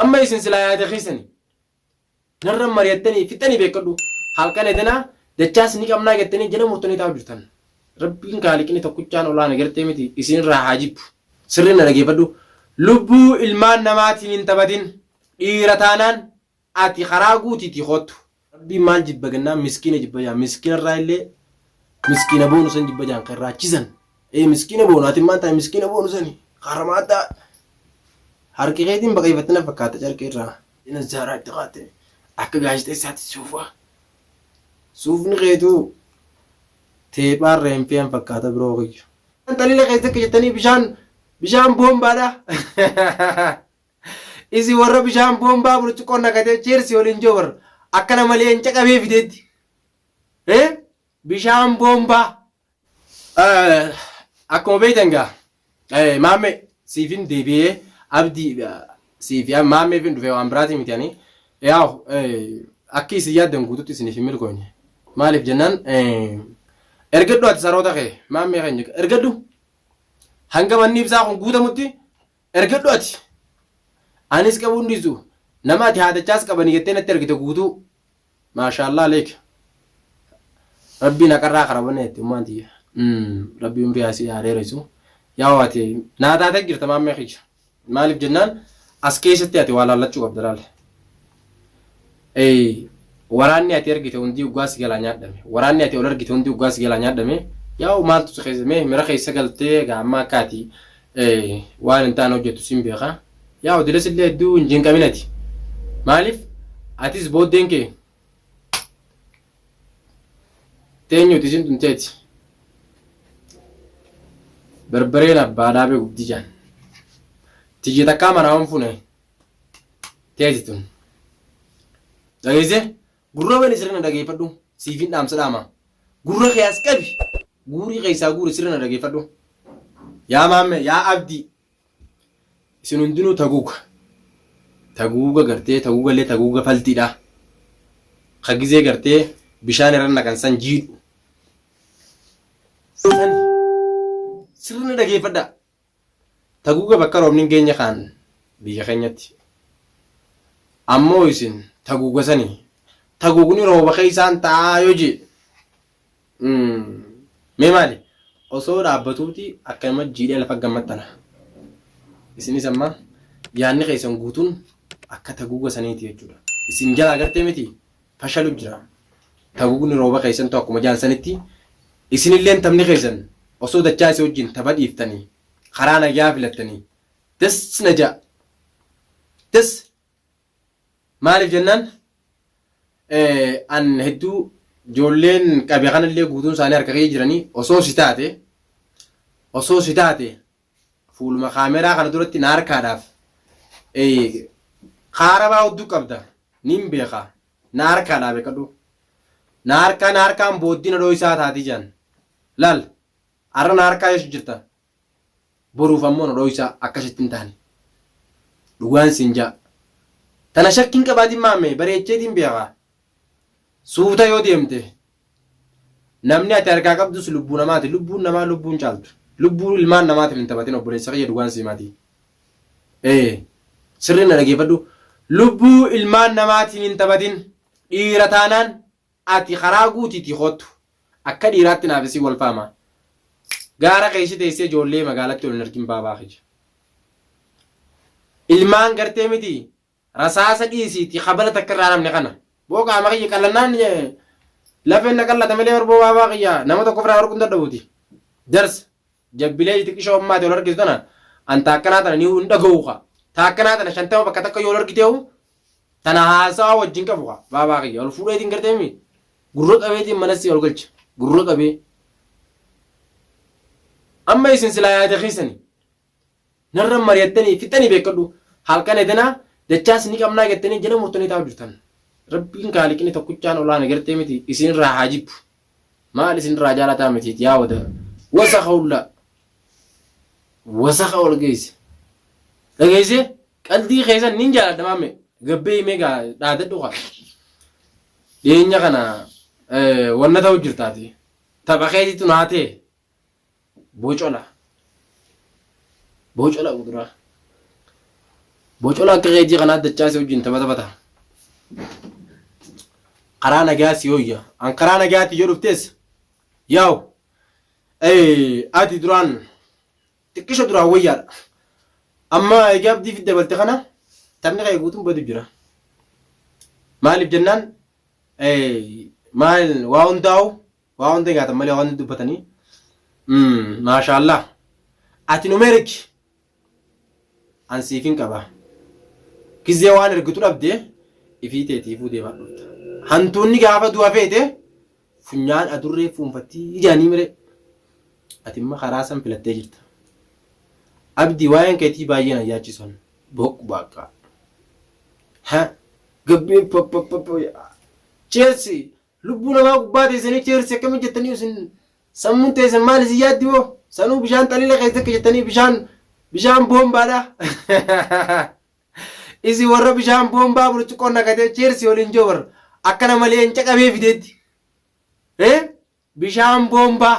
Amma isin silaa yaada keessani narra mari'attanii fixxanii beekkadhu. Halkan edanaa dachaas ni qabnaa jettanii jala murtanii taa'u jirtan. Rabbiin kaaliqni tokkichaan olaana gartee miti isinirraa haa jibbu. Sirrii na dhageeffadhu. Lubbuu ilmaan namaatiin hin taphatin. Dhiira taanaan ati karaa guutiitii koottu. Rabbiin maal jibba gennaan miskiina jibba jaan miskiina irraa illee miskiina boonu san jibba jaan kan raachisan ee miskiina boonu ati maal taate miskiina boonu sani harama addaa harki keetiin baqayfatte na fakkaata carqii irraa jina zaaraa itti qaate akka gaazexeessaatti suufa suufni keetuu teephaa irra hin fe'an fakkaata biroo kiyya. Talila keessa akka jettanii bishaan bishaan boombaadha. Isin warra bishaan boombaa burcuqqoon nakatee cheersi waliin joobar akkana malee hin caqabee fideetti. Eh? Bishaan boombaa. Eh, Akkuma beektan gaa eh, maammee siifin deebi'ee abdii eh, siifi ah, maammeefin dhufee waan biraatii miti ani. Yaaw eh, akki isin yaaddan guututti isiniif hin milkoofne. Maaliif jennaan eh, ergadhu ati saroota kee maammee keenya ergadhu hanga manni ibsaa kun guutamutti Ergadhu ati! Anis qabuu hin dhiisu. Nama ati haadachaas qabani jettee natti ergite guutuu. Maashaallaah aleek. Rabbiin haqarraa kara banee itti ummaan tiyya. Rabbii umrii haa si haa dheeressu. Yaa ati naa taatee jirta maammee kiyya. Maaliif jennaan as keessatti ati waa laallachuu qabda laal. Eeyy waraanni ati argite hundii uggaa si jalaa nyaadhame waraanni ati ol argite hundii uggaa si jalaa nyaadhame yaa'u maaltu si keessa mee mira keessa galtee egaa amma akka ati waan hin taane hojjettu siin beeka yaa'u dilas illee hedduu hin jinqamin ati maaliif atis booddeen kee teenyuuti isin tunteeti barbareen abbaa dhaabee gubdi jaan tiyya takkaa manaa hin fune Keeti tun. Dhageessee? Gurra wali sirna dhageeffadhu. Siifin dhaamsa dhaama. Gurra kee as qabi. Guurii keessaa guuri sirna dhageeffadhu. Yaa maamme, yaa abdii. Isin hundinuu taguuga. Taguuga gartee taguuga illee taguuga faltiidha. Ka gizee gartee bishaan irra naqan san jiidhu. San sirna dhageeffadha. Taguga bakka roobni hin geenye kaan biyya keenyatti. Ammoo isin taguga sani tagugni rooba keessaan ta'aa yoo jee mee maali osoo dhaabbatuuti akkanuma jiidhee lafa gammattana. Isinis amma yaanni keessan guutuun akka taguga saniiti jechuudha. Isin jalaa gartee miti fashalu jira. Tagugni rooba keessantu akkuma jaan sanitti isinilleen taphni keessan osoo dachaa isa wajjin tapha dhiiftanii karaa nagyaa filattanii das na ja'a. Das maaliif jennaan an hedduu ijoolleen qabe kanallee guutuun isaanii harka kee jiranii osoo si taate osoo si taate Fuuluma kaameraa kana duratti na harkaadhaaf kaarabaa hudduu qabda nin beeka na harkaadhaa beekadhu na harkaa na harkaan booddee na dhooysaa taati jaan laal arra na harkaa yesu jirta boruuf ammoo na dhooysaa akka ishitti hin taane dhugaan siin jaa tana shakkiin qabaatiin maammee bareecheetiin beeka suuta yoo deemte Namni ati harkaa qabdus lubbuu namaati. Lubbuun namaa lubbuu hin caaltu. Lubbuu ilmaan namaatiin hin taphatin obboleessa kiyya dhugaan sii maatii. Ee sirri na dhageeffadhu. Lubbuu ilmaan namaatiin hin taphatin. Dhiira taanaan ati karaa guutiitii koottu. Akka dhiiraatti naaf isii wal faamaa. Gaara keessa teessee ijoollee magaalatti ol hin argin baabaa kiyya. Ilmaan gartee miti Rasaasa dhiisiiti kabala takka irraa namne kana. Boo qaama kiyya qallannaan lafeen na qallata malee bar boo baabaa kiyya nama tokko ofirraa warquun dadhabuuti. Jarsa jabbilee iti qishoo ammaa ati ol argitu tana an taakkanaa tana ni hin dhaga'u ka. Taakkanaa tana shantama bakka takka yoo ol argiteehu tana haasawaa wajjin qabu ka baabaa kiyya ol fuudheetiin gartee mi gurra qabeetiin manassi ol galcha gurra qabee. Amma isin silaa yaada keessani. Narra mari'attanii fixxanii beekkadhu. Halkan edanaa dachaas ni qabnaa jettanii jala murtanii taa'u jirtan. Rabbiin kaaliqni tokkichaan olaana gartee miti isinirraa haa jibbu. Maal isinirraa jaalataa mitiit yaa wada wasaka hullaa. Wasaka ol geesse. Dhageesse qaldii keessan nin jaaladha maamme. Gabbee himee gaa dhaadadhu kaa. Dhiyeenya kana wanna ta'u jirtaati. Tapha keetitu naa ta'e. Bocola. Bocola kuduraa. Bocola akka keejii kanaa dachaa si wajjin taphata bata. Karaa nagaa si hooyya. An karaa nagaati yoo dhuftees. Yaa'u. Eh, ati duraan xiqqisho duraan wayyaadha. Amma egaa abdii fi dabalte kana taphni kee guutuun badu jira. Maaliif jennaan eh, maal waa hundaa'u waa hunda nyaatan malee waan hunda dubbatanii maashaallah ati nu merki an siifin qaba gizee waan ergitu dhabde ifii teetiifuu deemaa dhufta hantuunni gaafa du'a feete funyaan adurree fuunfattii ijaanii mire ati imma karaa san filattee jirta abdii waa'een keetii baay'ee na yaachisan boqqu baaqqa ha gabbiin pappappappa cheessi Lubbuu namaa gubbaa teessanii cheersi akkami jettanii isin sammuun teessan maal isin yaaddi moo sanuu bishaan xalila keessa akka jettanii bishaan bishaan boombaadha. Isin warra bishaan boombaa burcuqqoon naqatee cheersi waliin joobar akkana malee hin caqabee fideetti. Bishaan boombaa.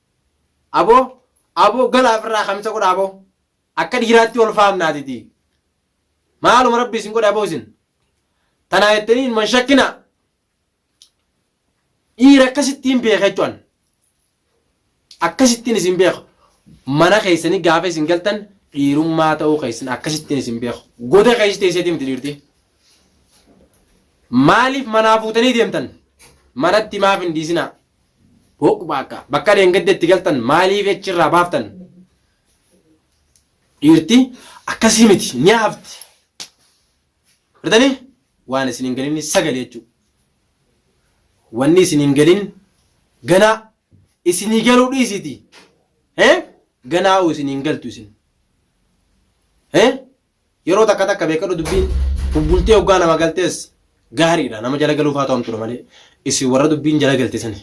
Aboo Aboo galaa ofirraa kamisa godhaa aboo akka dhiiraatti ol faamnaatitii maaluma rabbi isin godhe aboo isin tanaa jettanii ilman shakkinaa dhiira akkasittiin beeka jechuun akkasittiin isin beeka mana keessanii gaafa isin galtan dhiirummaa ta'uu keessan akkasittiin isin beeka goda keessa teesseetii miti dhiirti maaliif manaa fuutanii deemtan manatti maaf hin dhiisinaa Hooq baakka bakka dheengadde itti galtan maaliif echi irraa baaftan? Dhiirti akkasii miti ni hafti. Artanii waan isin hin galinni sagale jechuudha. Wanni isin hin galin ganaa isinii galuu dhiisiti. Ganaa isin hin galtu isin. Yeroo takka takka beekadhu dubbiin bubbultee hoggaa nama galtees gaariidha nama jala galuuf haa to'amtudha malee isin warra dubbiin jala galte sani.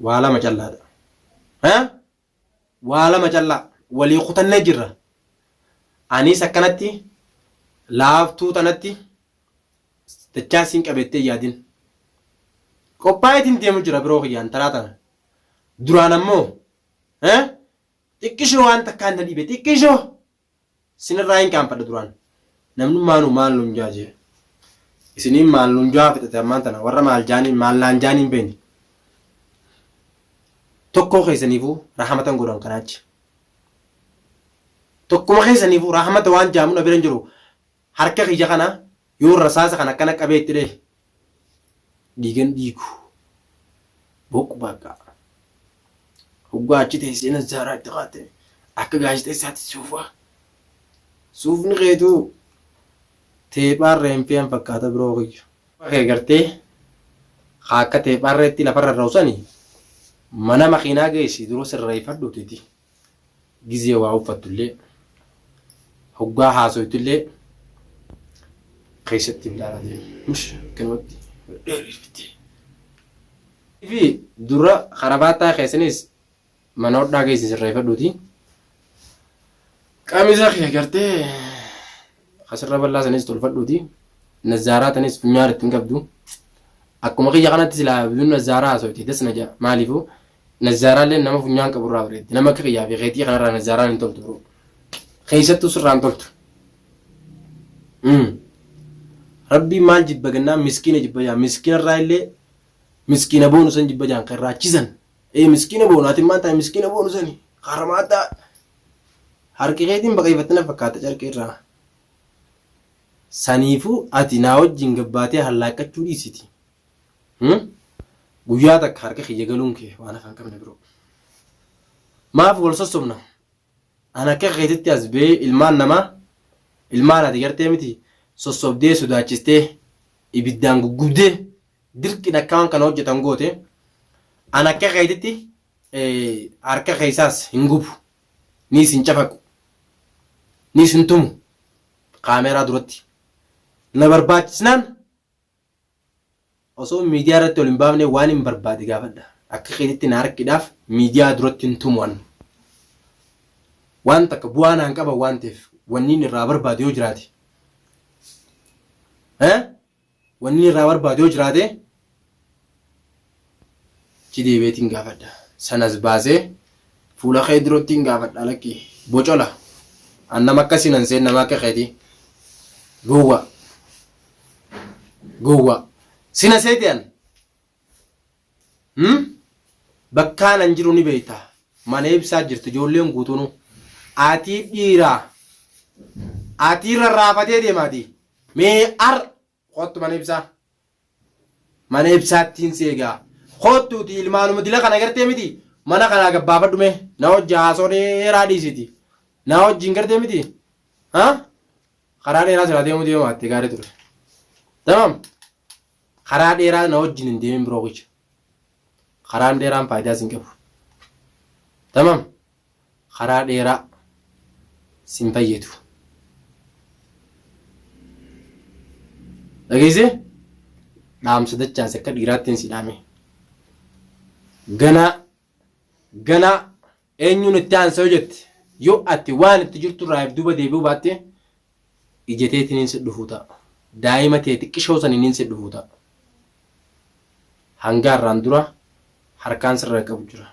Waa lama callaadha. Eh? Waa lama callaa walii kutannee jirra. Anis akkanatti laaftuu tanatti dachaa siin qabettee yaadin. Qophaa'eetiin deemu jira biroo kiyyaan taraa tana. Duraan ammoo Eh? Xiqqishoo waan takkaan na dhibe xiqqishoo sinirraa hin kaanfadha duraan. Namnummaanuu maal nun jaa jee. Isiniin maal nun jaa fixate ammaan tana warra maal jaaniin maal naan jaaniin beekne. Tokkoo keessaniifuu rahamatan godhan kanaachi. Tokkuma keessaniifuu rahamata waan jaamu na bira hin jiru. Harka kiyya kana yoon rasaasa kana akkana qabee itti dhahe dhiigan dhiigu. Boqu bakka. Hoggaa achi teessee nazzaaraa itti kaa'atte akka gaazexeessaatti suufaa. Suufni keetuu teephaan reenfiyaan fakkaata biroo kiyya. Kee gartee haa akka teephaan reetti lafarra ra'u sani mana makiinaa geessi dura sirreeffadhu titi. gizee waa uffattullee hoggaa haasoytullee keessatti hin dhaalatee mush akkanumatti dheerifte. Fi dura karabaattaa keessanis mana hodhaa keessa sirreeffadhuuti. Qamisa kee gartee asirra bal'aa sanis tolfadhuuti. Nazaaraa tanis funyaan ittiin qabdu. Akkuma kiyya kanatti silaa biyyoon nazaaraa haasofte das na ja'a. Maaliifuu Nazzaaraalleen nama funyaan qabu irraa bareeddi. Nama akka kiyyaa fi keetii kanarraa nazzaaraan hin toltu biroo. Keessattuu sirraa hin toltu. Rabbiin maal jibba gannaan miskiina jibba jaan miskiina irraa illee miskiina boonu san jibba jaan kan raachisan. Ee miskiina boonu ati maal taate miskiina boonu sani haramaa addaa harki keetiin baqeeffattina fakkaata carqii irraa. Saniifuu ati naa wajjin gabbaatee hallaaqqachuu dhiisiti. Guyyaa takka harka kiyya galuun kee waan afaan qabne biroo. Maaf wal sossobna? An akka keetitti as ba'ee ilmaan namaa ilmaan ati gartee miti sossobdee sodaachistee ibiddaan guggubdee dirqiin akka waan kana hojjetan goote an akka keetitti harka keessaas hin gubu niis hin cafaqu niis hin tumu kaameeraa duratti na barbaachisnaan Osoo miidiyaa irratti ol hin baafne waanin barbaade gaafadha. Akka keetitti na harkidhaaf miidiyaa duratti hin tumu an. Waan takka bu'aa naan qaban waan ta'eef wanniin irraa barbaadu yoo jiraate eh wanniin irraa barbaadu yoo jiraate Achi deebi'eetiin gaafadha. Sanas baasee fuula kee durattiin gaafadha lakkii. Bocola. An nama akkasii nan seen nama akka keetii. Gowwa. Gowwa. Sina seete an. Hmm? Bakkaan an jiru ni beekta. Mana ibsaa jirtu ijoolleen guutuunu. Atii dhiiraa. Atii rarraafatee deemaatii. Mee ar Koottu mana ibsaa. Mana ibsaattiin si egaa. Koottuuti ilmaanuma dila kana gartee miti mana kanaa gabbaafadhu mee na hojji haasoo dheeraa dhiisiti. Na hojjiin gartee miti. Ha? Karaa dheeraa silaa deemuu deemaatte gaarii ture. Tamam? Karaa dheeraa na hojjiin hin deemin biroo kicha. Karaan dheeraan faayidaa sin qabu. Tamam? Karaa dheeraa sin fayyadu. Dhageesse? Dhaamsa dachaas akka dhiiraattiin si dhaame. Ganaa ganaa Eenyuun itti aansa yoo jette, yoo ati waan itti jirtu irraa if duuba deebi'uu baatte, ija teetiniin si dhufuu ta'a. Daa'ima tee xiqqishoo saniiniin si dhufuu ta'a. Hangaa irraan dura harkaan sirra hin qabu jira.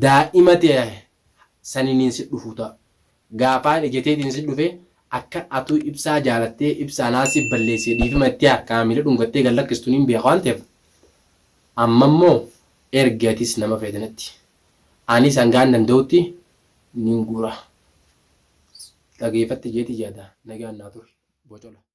Daa'ima tee saniiniin si dhufuu ta'a. Gaafaan ijeteetiin si dhufe akka atuu ibsaa jaalattee ibsa anaa siif balleessee dhiifima itti harkaa miila dhungattee gad lakkistu niin beeka waan ta'eef ammammoo ergi atis nama feete natti anis hangaan danda'utti niin guura dhageefatti jeeti yaada nagaan naa turi bocola.